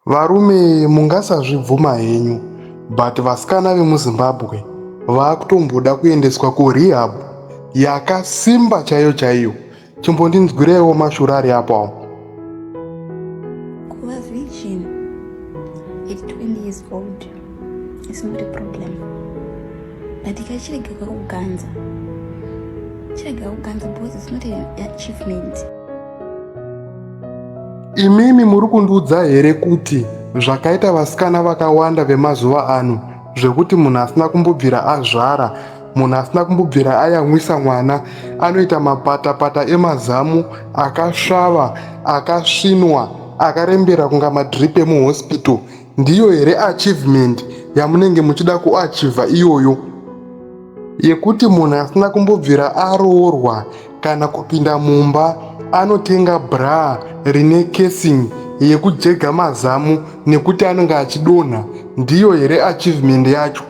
Varume mungasazvibvuma henyu but vasikana vemuZimbabwe vakutomboda kuendeswa kurehab yakasimba chaiyo chaiyo. Chimbondinzwireiwo mashura ari apo awo. Kuva virgin at 20 years old is not a problem but kachirega kakuganza chirega kuganza because it's not an achievement. Imimi muri kundiudza here kuti zvakaita vasikana vakawanda vemazuva ano zvekuti munhu asina kumbobvira azvara munhu asina kumbobvira ayamwisa mwana anoita mapatapata emazamu akasvava akasvinwa akarembera kunga madrip emuhospital Ndiyo here achievement yamunenge muchida kuachiva iyoyo yekuti munhu asina kumbobvira aroorwa kana kupinda mumba anotenga braa rine casing yekujega mazamu nekuti anenge achidonha ndiyo here achievement yacho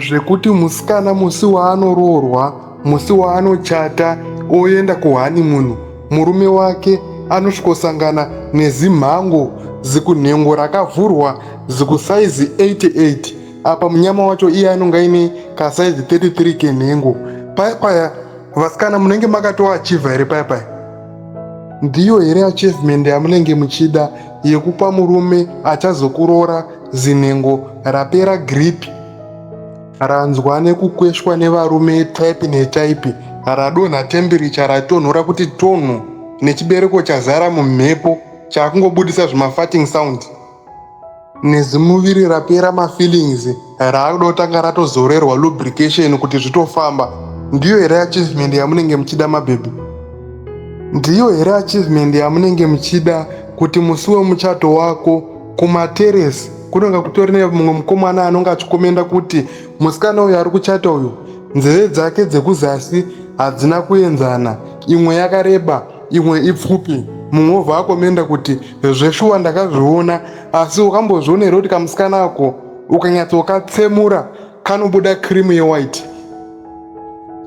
zvekuti musikana musi waanoroorwa musi waanochata oenda kuhanimunu murume wake anosvikosangana nezimhango zikunhengo rakavhurwa zikusaizi 88 apa munyama wacho iye anonga ine kasaizi 33 kenhengo paya paya vasikana munenge makatoachiva here paya paya ndiyo here achievement yamunenge muchida yekupa murume achazokuroora Zinhengo rapera grip ranzwa nekukweshwa nevarume type netype radonha temperature ratonhora kuti tonhu nechibereko chazara mumhepo chakungobudisa zvimafarting sound nezimuviri rapera mafeelings raakuda kutanga ratozorerwa lubrication kuti zvitofamba ndiyo here achievement yamunenge muchida mabhebhi ndiyo here achievement yamunenge muchida kuti musi wemuchato wako kumateresi kunonga kutori nemumwe mukomana anonga achikomenda kuti musikana uyu ari kuchata uyu nzeve dzake dzekuzasi hadzina kuenzana imwe yakareba imwe ipfupi mumwe wobva akomenda kuti zveshuwa ndakazviona asi wakambozvionera kuti kamusikana ako ukanyatsokatsemura kanobuda cream yewhite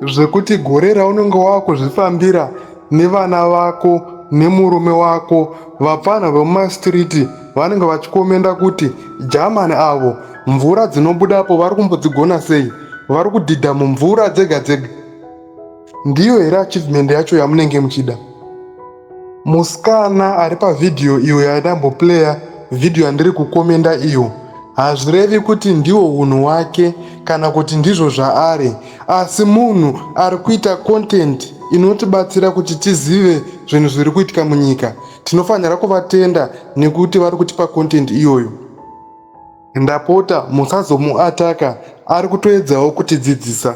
zvekuti gore raunenge wakuzvifambira nevana vako nemurume wako vapfanha vemumastreet vanenge vachikomenda kuti jamani avo mvura dzinobudapo vari kumbodzigona sei vari kudhidha mumvura dzega dzega Ndiyo here achievement yacho yamunenge muchida? Musikana ari pavhidhiyo iyo yandamboplaya vhidhiyo yandiri kukomenda iyo hazvirevi kuti ndiwo unhu wake kana kuti ndizvo zvaari asi munhu ari kuita content inotibatsira kuti tizive zvinhu zviri kuitika munyika tinofanira kuvatenda nekuti vari kutipa content iyoyo Ndapota musazomuataka ari kutoedzawo kutidzidzisa.